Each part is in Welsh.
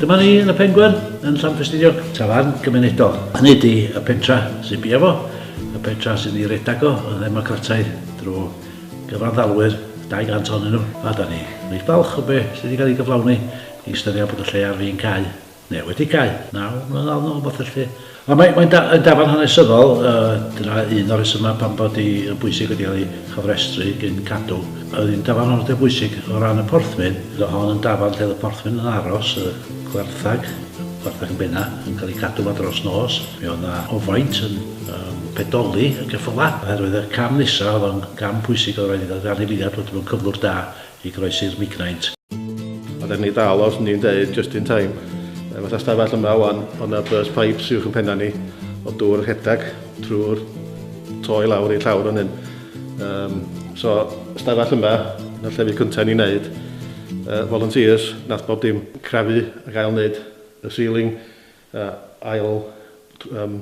Dyma ni yn y Pengwern, yn Llanfestiniog, tafarn gymunedol. Hynny di y pentra sy'n bia fo, y pentra sy'n ei redag o yn ddemocrataidd drwy gyfanddalwyr, 200 ohonyn nhw, a da ni reit falch o be sydd wedi cael ei gyflawni i ystyried bod y lle ar fin cau neu wedi cau, naw mlynedd nôl, rhywbeth felly. Ond mae'n mae da, dafarn hanesyddol, uh, dyna un o'r resymau pan bod i yn bwysig wedi cael ei chofrestru gyn cadw. Oedd hi'n dafarn o'r bwysig o ran y porthmyn, roedd hon yn dafarn lle oedd y porthmyn yn aros, y gwarthag, gwarthag yn benna, yn cael ei cadw fa dros nos. Mi oedd na ofaint yn um, pedoli y ceffyla, oherwydd y cam nesaf oedd o'n gam pwysig oedd rhaid i gael rhan i filiad bod mewn cyflwr da i groesi'r migraint. Ond er ni dal os ni'n deud just in time, fatha stafell yma wan, o' 'na burst pipes uwch yn penna ni o dŵr yn rhedag trwy'r to i lawr i'r llawr fan hyn. Yym so stafell yma, na'r llefydd cynta ni'n neud. Yy volunteers, nath bob dim crafu ac ail neud y ceiling, yy ail yym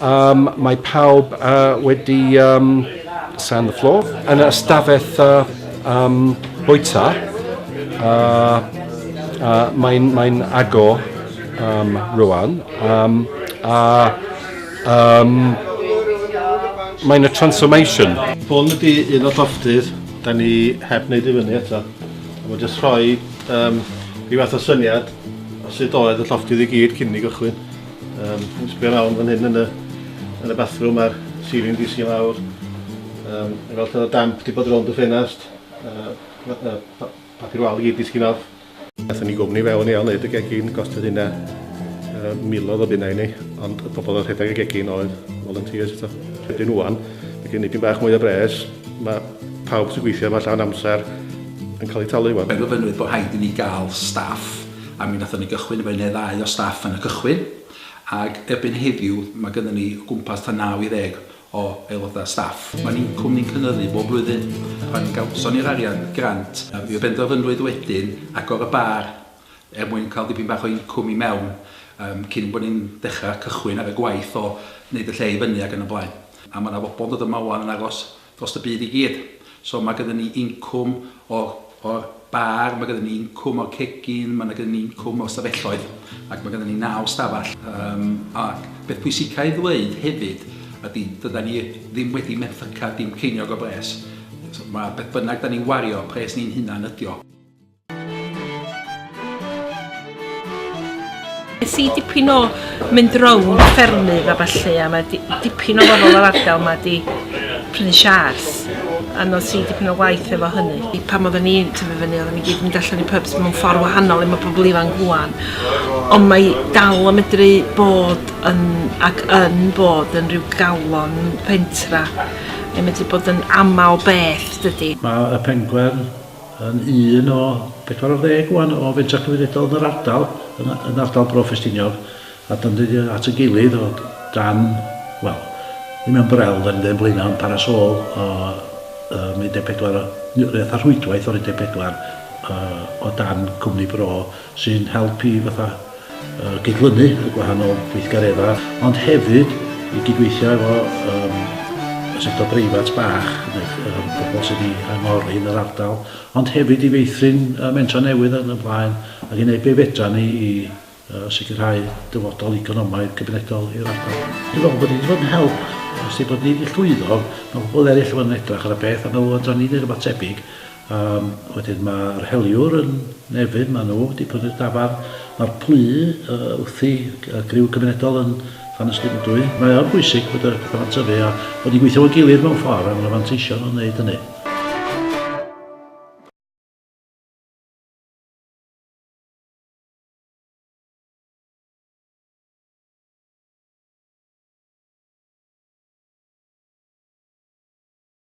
Um, mae pawb uh, wedi um, sand the floor yn y ystafell uh, um, bwyta. Uh, uh, Mae'n mae agor um, rwan. Um, a um, mae'n y transformation. Hwn ydy un o llofftydd, da ni heb wneud i fyny eto. Mae'n jyst rhoi um, rhyw fath o syniad o sut oedd y llofftydd i gyd cyn i gychwyn. Um, sbio lawr fan hyn yn y, yn y bathroom a'r ceiling di si lawr. Um, yn fel lle damp di bod rownd y ffenast. Uh, uh, pa, papur wal i gyd disgyn off. Nathon ni gwmni fewn i ail wneud y gegin, gostod hynna uh, milodd o bunnau i ni, ond y pobl oedd rhedeg y gegin oedd volunteers eto. Rydyn nhw'n, mae gen i dyn bach mwy o bres, mae pawb sy'n gweithio yma llawn amser yn cael eu talu wan. Mae gofynnwyd bod rhaid i ni gael staff A mi wnaethon ni gychwyn efo un neu ddau o staff yn y cychwyn, ac erbyn heddiw mae gynnon ni o gwmpas tua naw i ddeg o aelodau staff. Mae'n incwm ni'n cynyddu bob blwyddyn. Pan gawson ni'r arian grant, mi benderfynwyd wedyn agor y bar er mwyn cael dipyn bach o incwm i mewn yym cyn bod ni'n dechrau cychwyn ar y gwaith o wneud y lle i fyny ac yn y blaen. A mae 'na bobl yn dod yma 'wan yn aros dros y byd i gyd. So mae gyda ni incwm o'r, o'r bar, mae gyda ni incwm o'r cegin, mae gyda ni incwm o'r stafelloedd, ac mae gyda ni naw stafell. Um, ac beth pwysica i ddweud hefyd ydy, dyda ni ddim wedi menthyca dim ceiniog o bres. So, mae beth bynnag da ni'n wario, pres ni'n hunan ydio. Nes i dipyn o mynd rownd ffermydd a falle, a mae dipyn o bobl o'r ardal mae di prynu siars a nos i dipyn o waith efo hynny. I pan oedden ni'n tyfu fyny, oedden ni gyd yn allan i pubs mewn ffordd wahanol i mae pobl ifanc rwan. Ond mae dal yn medru bod yn, ac yn bod yn rhyw galon pentra. Mae'n medru bod yn aml beth, dydy. Mae y pengwern yn un o 40 ŵan o fentrau cymunedol yn yr ardal, yn, yn ardal Bro Ffestiniog, a dan ni at y gilydd o dan, wel, ddim yn brel, dan ni'n dweud yn blaenau, ond parasol o um, 14, neu fatha rhwydwaith o'r 14 uh, o dan cwmni bro, sy'n helpu i fatha uh, gydlynu y gwahanol gweithgareddau, ond hefyd i gydweithio efo um, y sector breifat bach, um, pobl sydd wedi angori yn yr ardal, ond hefyd i feithrin uh, mentra newydd yn y blaen, ac i wneud be fedra ni i uh, sicrhau dyfodol economaidd cymunedol i'r ardal. Dwi'n meddwl bod ni wedi bod yn help, os di bod ni wedi llwyddo, mae pobl eraill yn edrych ar y peth a meddwl fydra ni wneud rhywbeth tebyg, A wedyn ma'r heliwr yn Nefyn, ma' nhw 'di prynu'r dafarn. Ma'r plu yy wrthi y griw cymunedol yn Llanystumdwy. Mae o'n bwysig bod y petha 'ma'n tyfu a bod ni'n gweithio efo'n gilydd mewn ffor a ma' 'na fanteision o neud hynny.